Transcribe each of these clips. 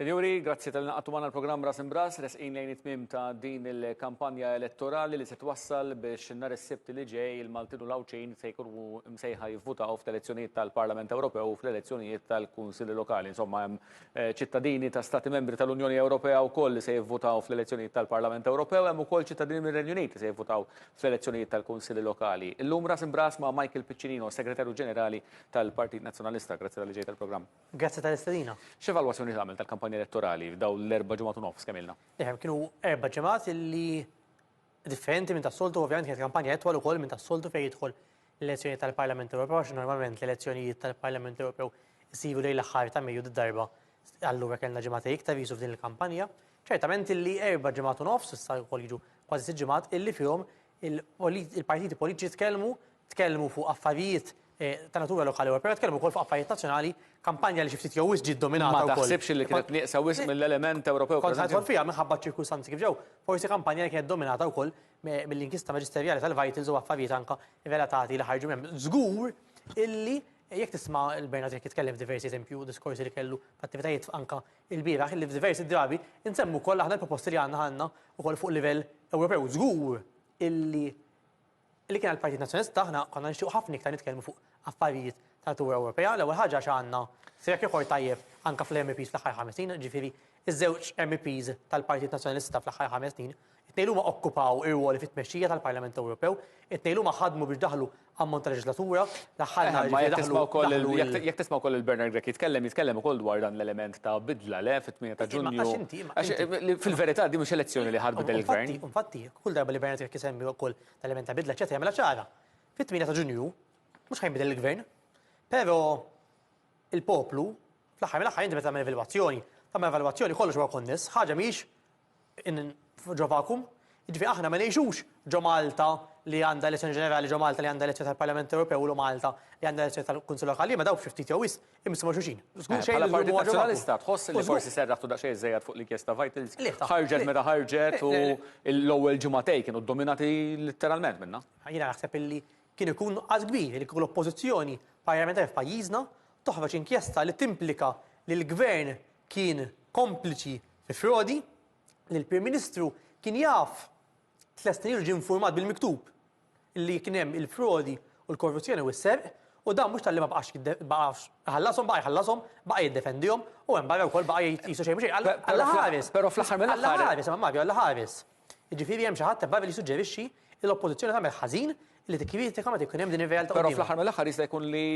Sinjuri, grazzi tal-li naqadtu magħna l-programm Ras Imb'Ras, resqin lejn it-tmiem ta' din il-kampanja elettorali li se twassal biex nhar is-Sibt li ġej il-Maltin u l-Għawdxin se jkunu msejħa jivvutaw fl-elezzjonijiet tal-Parlament Ewropew u fl-elezzjonijiet tal-Kunsilli Lokali. Insomma, hemm eh, ċittadini ta' Stati Membri tal-Unjoni Ewropea wkoll li se jivvutaw fl-elezzjonijiet tal-Parlament Ewropew, hemm ukoll ċittadini mir-Renju Unit li se jivvutaw fl-elezzjonijiet tal-Kunsilli Lokali. Illum Ras Imb'Ras ma' Michael Piccinino, Segretarju Ġenerali tal-Partit Nazzjonalista. Grazzi tal-li ġejt tal-programm. Grazzi tal-istedina. X'evalwazzjoni tagħmel tal-kampanja elettorali f'dawn l-erba' ġimgħat u nofs kemm ilna? Ifhem, kienu erba' ġimgħat illi differenti minn tas-soltu u ovvjament kienet kampanja itwal ukoll minn tas-soltu fejn jidħol l-elezzjonijiet tal-Parlament Ewropew għax normalment l-elezzjonijiet tal-Parlament Ewropew isiru lejn l-aħħar ta' Mejju did-darba allura kellna ġimgħatej iktar viżu f'din il-kampanja. Ċertament illi erba' ġimgħat u nofs issa wkoll jiġu kważi sitt ġimgħat illi fihom il-partiti politiċi tkellmu tkellmu fuq affarijiet ta' natura lokali u Ewropea, tkellmu wkoll fuq affarijiet nazzjonali, kampanja li xi ftit jew wisq ġiet dominata wkoll. Ma taħsibx li kienet nieqsa wisq mill-element Ewropew preżenti? Kont ħa nidħol fiha minħabba ċ-ċirkustanzi kif ġew. Forsi kampanja li kienet dominata wkoll mill-inkjesta maġisterjali tal-Vitals u affarijiet anke relatati li ħarġu minn hemm. Żgur illi jekk tisma' lil Bernard Grech jitkellem f'diversi eżempji u diskorsi li kellu f'attivitajiet anke ilbieraħ illi f'diversi drabi insemmu wkoll aħna l-proposti li għandna aħna wkoll fuq livell Ewropew. Żgur illi Li kien għall-Partit Nazzjonalista aħna konna nixtiequ ħafna iktar nitkellmu fuq affarijiet ta' natura Ewropea, l-ewwel ħaġa għax għandna track record tajjeb anke fl-MEPs fl-aħħar ħames snin, jiġifieri ż-żewġ MEPs tal-Partit Nazzjonalista fl-aħħar ħames snin, it-tnejnhuma okkupaw irwoli fit-tmexxija tal-Parlament Ewropew, it-tnejnhuma ħadmu biex daħlu ammont ta' leġislatura, l-aħħar nhar jiġifieri daħlu, daħlu il-. Jekk tisma' wkoll lil Bernard Grech jitkellem, jitkellem ukoll dwar dan l-element ta' bidla, le, fit-tmien ta' Ġunju. Għax inti, imma. Fil-verità din mhux elezzjoni li ħa tbiddel il-Gvern. Infatti, infatti. Kull darba li Bernard Grech isemmi wkoll l-element ta' bidla eċetera jagħmilha ċara. Fit-8 ta' Ġunju mhux ħajnbidel il-Gvern. Però il-poplu fl-aħħar mill-aħħar inti meta tagħmel evalwazzjoni, tagħmel evalwazzjoni kollox huwa konness, ħaġa mhix ġo vakum. Jiġifieri aħna ma ngħixux ġo Malta li għandha elezzjoni ġenerali, ġo Malta li għandha elezzjoni tal-Parlament Ewropew u Malta li għandha elezzjoni tal-Kunsill Lokali, ma dawk xi ftit jew wisq Imma ma' xulxin. Żgur xejn. Bħala Partit Nazzjonalista tħoss li forsi serraħtu daqsxejn iżżejjed fuq l-inkjesta Vitals? Le. Ħarġet meta ħarġet u l-ewwel ġimagħtej kienu ddominati litteralment minnha. Jiena naħseb li kien ikun nuqqas kbir li kieku l-Oppożizzjoni Parlamentari f'pajjiżna toħroġ inkjesta li timplika li l-Gvern kien kompliċi fi frodi, li l-Prim Ministru kien jaf tliet snin ilu ġie infurmat bil-miktub li kien hemm il-frodi u l-korruzzjoni u s-serq, u dan mhux talli ma baqax baqax iħallashom, baqa' jħallashom, baqa' jiddefendihom, u hemm barra wkoll baqa' jgħid qisu xejn mhu xejn. Alla ħares! Però fl-aħħar mill-aħħar. Alla ħares, imma Mario, Alla ħares. Jiġifieri hemm xi ħadd hemm barra li jissuġġerixxi li l-Oppożizzjoni tagħmel ħażin li tikkritika meta jkun hemm din ir-realtà quddiemha. Però fl-aħħar mill-aħħar jista' jkun li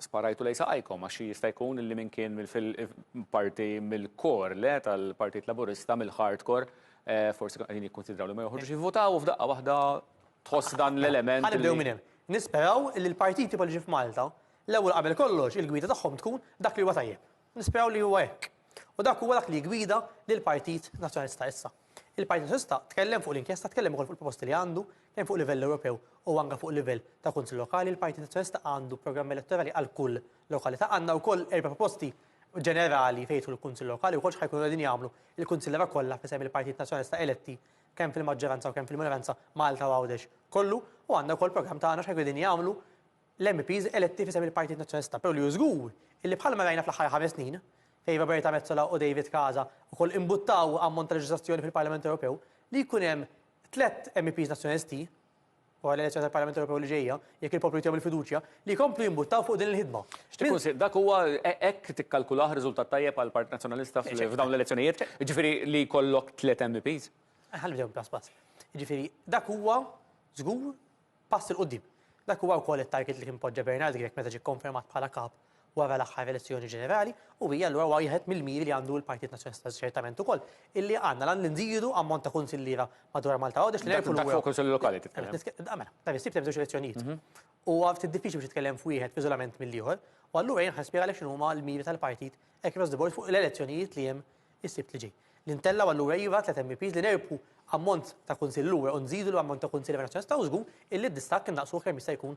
sparajtu lejn saqajkom għax jista' jkun li min kien mill-parti mill-core, le, tal-Partit Laburista, mill-hardcore, Forsi qegħdin jikkunsidraw li ma joħorġux jivvotaw u f'daqqa waħda tħoss dan l-element. Ħa nibdew minn hemm. Nisperaw li l-partiti politiċi f'Malta, l-ewwel qabel kollox il-gwida tagħhom tkun dak li huwa tajjeb. Nisperaw li huwa hekk. U dak huwa dak li jiggwida lill-Partit Nazzjonalista issa. Il-Partit Nazzjonalista tkellem fuq l-inkjesta, tkellem ukoll fuq il-proposti li għandu, kemm fuq livell Ewropew u anke fuq livell ta' Kunsill Lokali. Il-Partit Nazzjonalista għandu programm elettorali għal kull lokalità. Għandna wkoll erba' proposti ġenerali fejn jidħlu l-Kunsill Lokali wkoll x'ħa jkunu qegħdin jagħmlu l-kunsilliera kollha f'isem il-Partit Nazzjonalista eletti kemm fil-maġġoranza u kemm fil-minoranza Malta u Għawdex kollu u għandna wkoll programm ta' għana x'ħa jkunu qegħdin jagħmlu l-MEPs eletti f'isem il-Partit Nazzjonalista però li hu żgur illi bħalma rajna fl-aħħar ħames snin fejn Roberta Metsola u David Casa wkoll imbuttaw ammont ta' leġiżlazzjoni fil-Parlament Ewropew li jkun hemm tliet MEPs Nazzjonalisti wara l-elezzjoni tal-Parlament Ewropew li ġejja, jekk il-poplu jtihom il-fiduċja, li jkomplu jimbuttaw fuq din il-ħidma. X'tikkunsidra? Dak huwa, hekk tikkalkulah riżultat tajjeb għall-Partit Nazzjonalista f'dawn l-elezzjonijiet, jiġifieri li jkollok tliet MEPs? Ħalli nġawbek pass pass. Jiġifieri, dak huwa żgur pass 'il quddiem. Dak huwa wkoll it-target li kien poġġa Bernard Grech meta ġie kkonfermat bħala Kap wara l-aħħar elezzjoni ġenerali u hija allura wieħed mill-miri li għandu l-Partit Nazzjonalista ċertament ukoll illi għandna l-għan li nżidu ammont ta' kunsilliera madwar Malta Għawdex li nerfu l-ewwel. Kunsilli lokali titkellem. Mela, ta' bissib temm żewġ elezzjonijiet. Mhm. U ftit diffiċli biex titkellem f'wieħed f'iżolament mill-ieħor, u allura jien ħaspjega għalhekk x'inhu huma l-miri tal-partit across the board fuq l-elezzjonijiet li hemm is-sibt li ġej. L-intella u allura iva tlet MPs li nerpu ammont ta' kunsill lura u nżidu l-ammont ta' kunsill nazzjonalista u żgur illi d-distakk innaqsuh kemm jista' jkun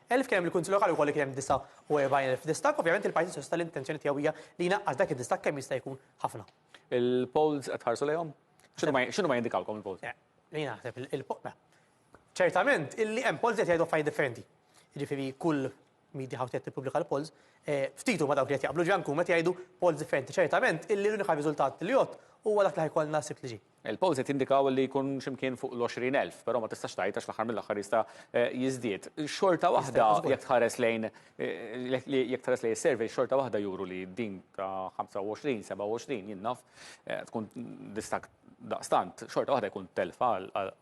Elf kien hemm il-Kunsill Lokali wkoll li kien hemm 49,000 distakk. Ovvjament il-Partit Soċjalista l-intenzjoni tiegħu hija li jnaqqas dak id-distakk kemm jista' jkun ħafna. Il-polls qed tħarsu lejhom? X'inhuma jindikawlkom il-polls? Li naħseb il-polls. Ċertament illi hemm polls li qed jgħidu affarijiet differenti. Jiġifieri kull media house li qed tippubblika l-polls, eh, ftit huma dawk li qed jaqblu, ġifieri anke huma qed jgħidu polls differenti. Ċertament illi l-unika riżultat li jgħodd huwa dak li ħajkollna s-Sibt li ġej. Il-polsi tindikaw li jkun xi mkien fuq l-għoxrin elf, però ma tistax tgħid għax fl-aħħar mill-aħħar jista' jiżdied. Xorta waħda jekk tħares lejn jekk tħares lejn is-surveys xorta waħda juru li din ta' 25, 27 jien naf tkun distakk daqstant xorta waħda jkun telfa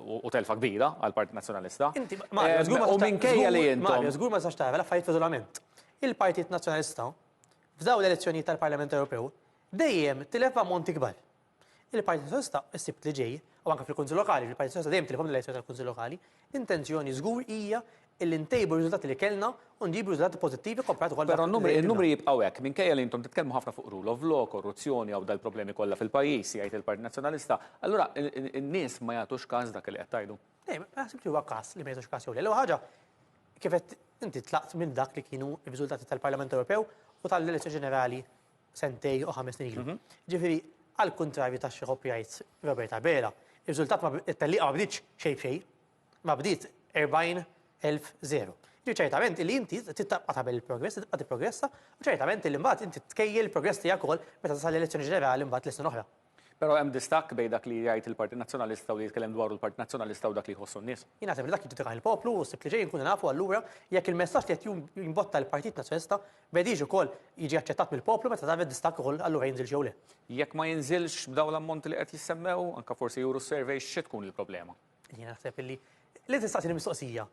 u telfa kbira għall-Partit Nazzjonalista. Inti Mario, żgur ma U minkejja li intom. Mario, żgur ma tistax tara l-affarijiet f'iżolament. Il-Partit Nazzjonalista f'dawn l-elezzjonijiet tal-Parlament Ewropew dejjem tilef b'ammonti kbar. Il-Partit Soċjalista s-Sibt li ġej, u anke fil-Kunsill Lokali, li l-Partit Soċjalista dejjem tilifhom l-elezzjoni tal-Kunsill Lokali, l-intenzjoni żgur hija li ntejbu r-riżultati li kellna u nġibu riżultati pożittivi kkomparat ukoll ma' dak li kellna. Però n-numri jibqgħu hekk, minkejja li intom titkellmu ħafna fuq rule of law, korruzzjoni hawn dal-problemi kollha fil-pajjiż, jgħid il-Partit Nazzjonalista, allura n-nies ma jagħtux każ dak li qed tgħidu? Le, ma naħsibx li huwa każ li ma jagħtux każ jew le. L-ewwel ħaġa, kif għedt inti tlaqt minn dak li kienu r-riżultati tal-Parlament Ewropew u tal-elezzjoni ġenerali sentejn u ħames snin ilu. Mhm. Ġifieri, għal kuntrarju ta' xi ħobb jgħid Robert Abela, ir-riżultat ma it-tellieqa ma bdietx xejn b'xejn, ma bdiet 40,000 Ġi ċertament li inti tittabqa tagħmel il-progress, tibqa' tipprogressa, u ċertament li mbagħad inti tkejjel il-progress tiegħek ukoll meta tasal l-elezzjoni ġenerali mbagħad l-sena oħra. Però hemm distakk bejn dak li jgħid il-Partit Nazzjonalista u li jitkellem dwaru l-Partit Nazzjonalista u dak li jħossu n-nies. Jien naħseb li dak jiġġudikah il-poplu u s-Sibt li ġej inkunu nafu allura jekk il-messaġġ li qed jimbotta l-Partit Nazzjonalista b'Edigio wkoll jiġi aċċettat mill-poplu meta tagħmel distakk ukoll allura jinżilx jew le. Jekk ma jinżilx b'dawn l-ammonti li qed jissemmew, anke forsi juru s-surveys, xi tkun il-problema? Jiena naħseb li li tistaqsini mistoqsija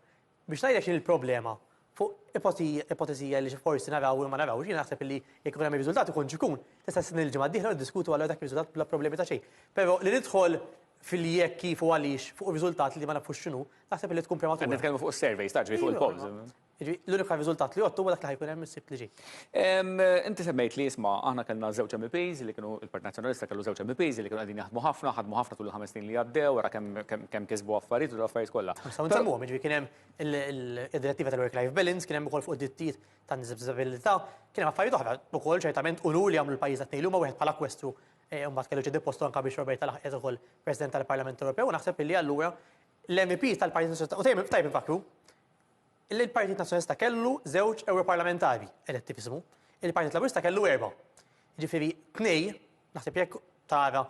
Biex ngħidlek x'inhi l-problema, fuq ipotezija li forsi naraw jew ma narawx, jiena naħseb li jekk ikun hemm ir-riżultat ikun x'ikun, tista' tistenni l-ġimgħa d-dieħla u niddiskutu allura dak ir-riżultat bla problemi ta' xejn. Però li nidħol fil-jekk, kif u għaliex fuq riżultat li ma nafux x'inhu, naħseb li tkun prematura. Qed nitkellmu fuq is-surveys, taf, ġifieri fuq il-polls. Jiġifieri l-unika riżultat li jgħottu huwa dak li ħa jkun hemm is-Sibt li ġej. Inti semmejt li jisma' aħna kellna żewġ MEPs li kienu il-Partit Nazzjonalista kellu żewġ MEPs li kienu qegħdin jaħdmu ħafna, ħadmu ħafna tul il-ħames snin li għaddew, wara kemm kisbu affarijiet u l-affarijiet kollha. Nistgħu nsemmuhom, jiġifieri kien hemm id-Direttiva tal-Work-Life Balance, kien hemm ukoll fuq id-drittijiet tan-nies b'diżabilità, kien hemm affarijiet oħra wkoll ċertament unur li għamlu l-pajjiż għat-tnejn li huma wieħed bħala Kwestru mbagħad kellu ċedi postu anke biex Roberta laħqet ukoll President tal-Parlament Ewropew u naħseb li allura l-MEPs tal-Partit Nazzjonalista u tajjeb infakkru Il-Partit Nazzjonalista kellu żewġ Ewroparlamentari eletti f'ismu, il-Partit Laburista kellu erbgħa. Jiġifieri tnej, naħseb jekk tara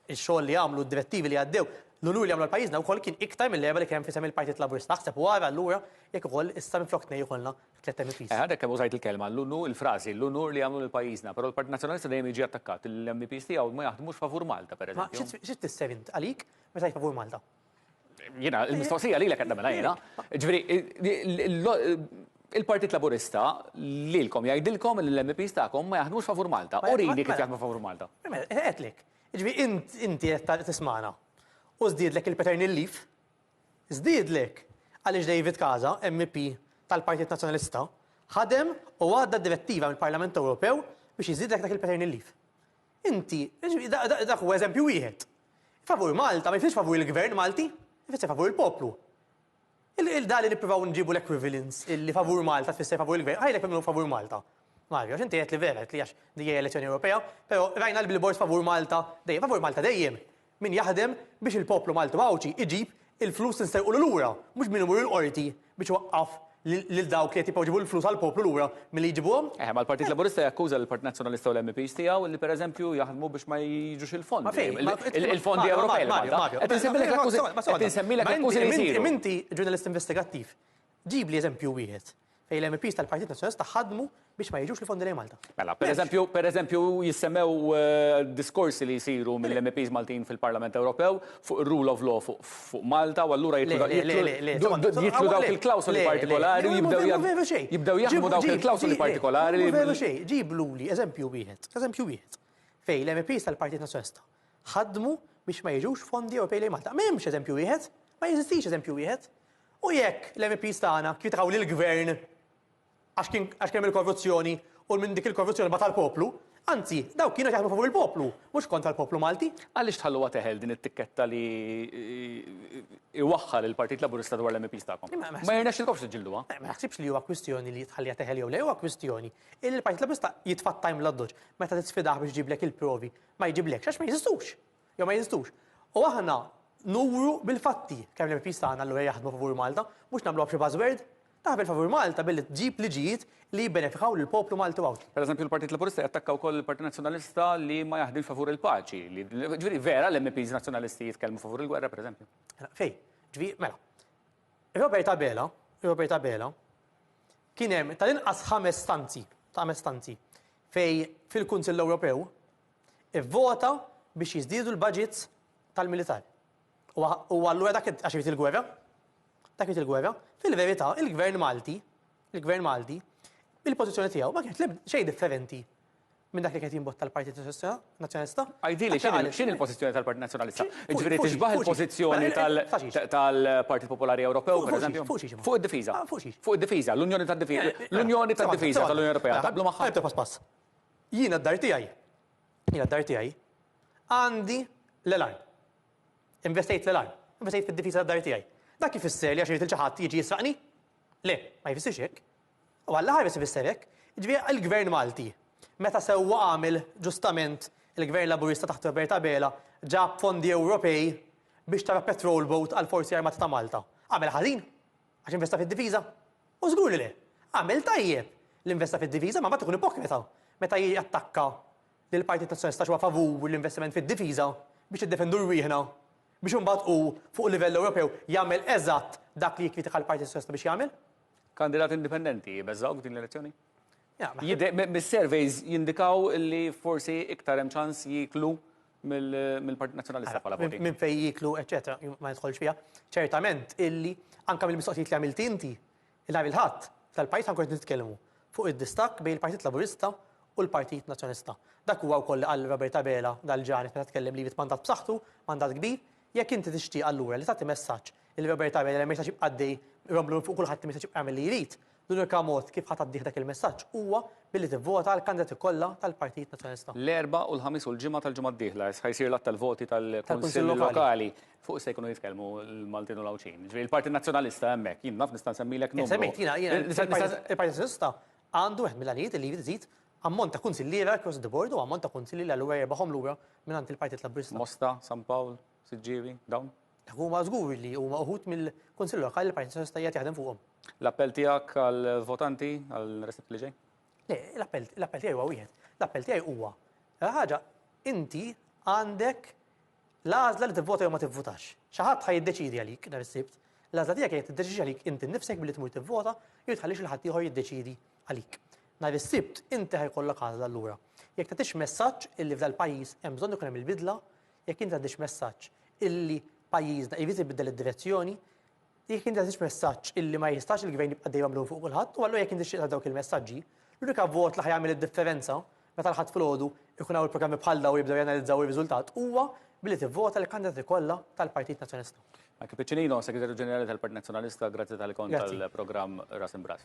x-xogħol li għamlu, d-direttivi li għaddew, l-unur li għamlu għal pajjiżna wkoll kien iktar mill-erbgħa li kien hemm f'isem il-Partit Laburista. Aħseb u ara allura jekk ukoll issa minflok tnej ikollna tliet MEPs. Għadek kemm użajt il-kelma, l-unur, il-frażi, l-unur li għamlu lil pajjiżna, però l-Partit Nazzjonalista dejjem jiġi attakkat li l-MEPs tiegħu ma jaħdmux favur Malta, pereżempju. Ma xi tfisser int għalik meta tgħid favur Malta? Jiena, il-mistoqsija lilek qed nagħmilha jiena. Ġifieri, il-Partit Laburista lilkom jgħidilkom li l-MEPs tagħkom ma jaħdmux favur Malta. Urini kif jaħdmu favur Malta. Għedtlek. Ġifieri, int inti qed tismagħna u żdiedlek il-paternal leave, żdiedlek għaliex David Casa, MEP tal-Partit Nazzjonalista, ħadem u għadda direttiva mill-Parlament Ewropew biex jiżdiedlek dak il-paternal leave. Inti, dak huwa eżempju wieħed. Favur Malta ma jfissirx favur il-Gvern Malti, ifisser favur il-poplu. Il-da li nippruvaw nġibu l-equivalence illi favur Malta tfisser favur il-Gvern, ħajlek minn minnu favur Malta. Mario, għax inti għedt li vera, għedt li għax dejja elezzjoni Ewropea, pero rajna l-billboards favur Malta, dejjem, favur Malta dejjem. Min jaħdem biex il-poplu Malti u Għawdxi iġib il-flus nsterqulu lura, mhux min imur il-Qorti biex iwaqqaf lil dawk li qed jibqgħu jġibu l-flus għall-poplu lura milli jġibuhom. Eħe, ma l-Partit Laburista jakkuża lill-Partit Nazzjonalista u l-MEPs tiegħu li pereżempju jaħdmu biex ma jiġux il-fondi, il-fondi Ewropej lil Malta. Qed insemmilek l-akkużi, qed insemmilek l-akkużi li jsiru. Imma inti, imma inti ġurnalist investigattiv, Ġibli eżempju wieħed fejn l-MEPs tal-Partit Nazzjonalista ħadmu biex ma jiġux l-fondi lejn Malta. Mela, pereżempju, pereżempju jissemmew diskorsi li jsiru mill-MEPs Maltin fil-Parlament Ewropew fuq ir-rule of law fuq fuq Malta u allura jitlu da- Le, le, jitlu- le, le, insomma, jitlu- insomma, jitlu dawk le, il-klawsoli le, le, partikolari u le, jibdew ma jagħmlu- veru xejn. jibdew jaħdmu Ġib- dawk ġib- il-klawsoli ġib- partikolari li- veru xejn, ġibluli eżempju wieħed, eżempju wieħed, fejn l-MEPs tal-Partit Nazzjonalista ħadmu biex ma jiġux fondi Ewropej lejn Malta. M'hemmx eżempju wieħed, ma jeżistix eżempju wieħed. U jekk l-MEPs tagħna kwitaw lill-Gvern għax kien għax kien hemm il-korruzzjoni u minn dik il-korruzzjoni bata l-poplu, anzi, dawk kienu qed jaħdmu favur il-poplu, mhux kontra l-poplu Malti. Għaliex tħalluha teħel din it-tikketta li iwaħħal il-Partit Laburista dwar l-MEPs tagħkom? Ma jirnexxilkomx tiġġilduha? Ma naħsibx li huwa kwistjoni li tħalliha teħel jew le, huwa kwistjoni li l-Partit Laburista jitfa' t-time l-addoċċ meta tisfidah biex iġiblek il-provi ma jġiblekx għax ma jeżistux. Jew ma jeżistux. U aħna nuru bil-fatti kemm l-MEPs tagħna allura jaħdmu favur Malta, mhux nagħmluha b'xi buzzword. Taħdem favur Malta billi tġib liġijiet li jibbenefikaw lill-poplu Malti u Għawdxi. Pereżempju l-Partit Laburista jattakka wkoll il-Partit Nazzjonalista li ma jaħdimx favur il-paċi. Ġifieri vera l-MEPs Nazzjonalisti jitkellmu favur il-gwerra pereżempju? Mela, fejn? Ġifieri, mela. Robert Abela, Robert Abela, kien hemm tal-inqas ħames stanzi, ta' ħames stanzi, fejn fil-Kunsill Ewropew, ivvota biex jiżdiedu l-baġits tal-militar. U allura dak għax irid il-gwerra? Dak irid il-gwerra? Fil-verità, il-Gvern Malti, il-Gvern Malti, il-pożizzjoni tiegħu ma kienet xejn differenti minn dak li kien jimbotta l-Partit Nazzjonalista. Għajdili, x'in il-pożizzjoni tal-Partit Nazzjonalista? Ġifieri tixbaħ il-pożizzjoni tal-Partit Popolari Ewropew, pereżempju? Fuq id-difiża. Fuq id-difiża, l-Unjoni tad-Difiża. L-Unjoni tad-Difiża tal-Unjoni Ewropea. Taqblu magħha? Pass pass. Jiena d-dar tiegħi, jiena d-dar tiegħi, għandi l-alarm. Investejt fl-alarm, investejt fid-difiża tad-dar tiegħi. Dak ifisser li għax irrid li xi ħadd jiġi jisraqni? Le, ma jfissirx hekk. U għall-aħħar biss ifisser hekk, jiġifieri il-Gvern Malti, meta sewwa għamel ġustament il-Gvern Laburista taħt Robert Abela, ġab fondi Ewropej biex tara patrol boat għall-Forzi Armati ta' Malta. Għamel ħażin? Għax investa fid-difiża? U żgur li le! Għamel tajjeb li investa fid-difiża, ma mbagħad ikun ipokrita meta jattakka lill-Partit Nazzjonalista għax huwa favur l-investiment fid-difiża biex niddefendu rwieħna biex imbagħad hu fuq livell Ewropew jagħmel eżatt dak li jikkritika l-Partit Nazzjonalista biex jagħmel. Kandidat indipendenti jbeżżgħuk f'din l-elezzjoni? Jidher, mis-surveys jindikaw li forsi iktar hemm ċans jieklu mill-Partit Nazzjonalista bħala voti. Minn fejn jieklu, eċċetera, ma nidħolx fiha. Ċertament illi anke mill-mistoqsijiet li għamilt inti, nhar il-Ħadd, tal-pajjiż ħankun qed nitkellmu fuq id-distakk bejn il-Partit Laburista u l-Partit Nazzjonalista. Dak huwa wkoll li qal Robert Abela dal-ġranet meta tkellem li jrid mandat b'saħħtu, mandat kbir, jekk inti tixtieq allura li tagħti messaġġ li Robert Abela li ma jistax jibqa' għaddej jromblu minn fuq kulħadd li ma jistax jibqa' jagħmel li jrid, L-unika mod kif ħa tgħaddih dak il-messaġġ huwa billi tivvota għall-kandidati kollha tal-Partit Nazzjonalista. L-Erbgħa u l-Ħamis u l-Ġimgħa tal-ġimgħa d-dieħla ħa jsir l-għadd tal-voti tal-Kunsilli Lokali. Fuq se jkunu jitkellmu l-Maltin u l-Għawdxin. Jiġifieri l-Partit Nazzjonalista hemmhekk. Jien naf nista' nsemmilek numru. Insemmik, jiena, jiena, il-Partit Nazzjonalista għandu wieħed mill-għanijiet li jrid iżid ammont ta' kunsilliera across the board u ammont ta' kunsilli li allura jirbagħhom lura mingħand il-Partit Laburista. Mosta, San Pawl, Siġġiewi, dawn? Huma żgur li huma uħud mill-Kunsill Lokali li l-Partit Soċjalista qiegħed jaħdem fuqhom. L-appell tiegħek għall-votanti għal Recipe li ġej? Le, l-appell l-appell tiegħi huwa wieħed. L-appell tiegħi huwa l ħaġa inti għandek l-għażla li tivvota jew ma tivvutax. Xi ħadd ħa jiddeċidi għalik nhar is-Sibt. L-għażla tiegħek hija tiddeċidi għalik inti nnifsek billi tmur tivvota jew tħallix il ħadd ieħor jiddeċidi għalik. Nhar is-Sibt inti ħajkollok għażla allura. Jekk tagħtix messaġġ illi f'dal-pajjiż hemm bżonn ikun hemm il-bidla, Jekk inti għaddix messaġġ illi pajjiżna jrid ibiddel id-direzzjoni, jekk inti għaddix messaġġ illi ma jistax il-gvern jibqa' dejjem mlum fuq kulħadd, u allura jekk inti xieqta dawk il-messaġġi, l-unika vot li ħa jagħmel id-differenza meta l-Ħadd filgħodu jkun hawn il-programmi bħal dawn jibdew janalizzaw ir-riżultat huwa billi tivvota lill-kandidati kollha tal-Partit Nazzjonalista. Michael Piccinino, Segretarju Ġenerali tal-Partit Nazzjonalista, grazzi tal-li kont għall-programm Ras Imb'Ras.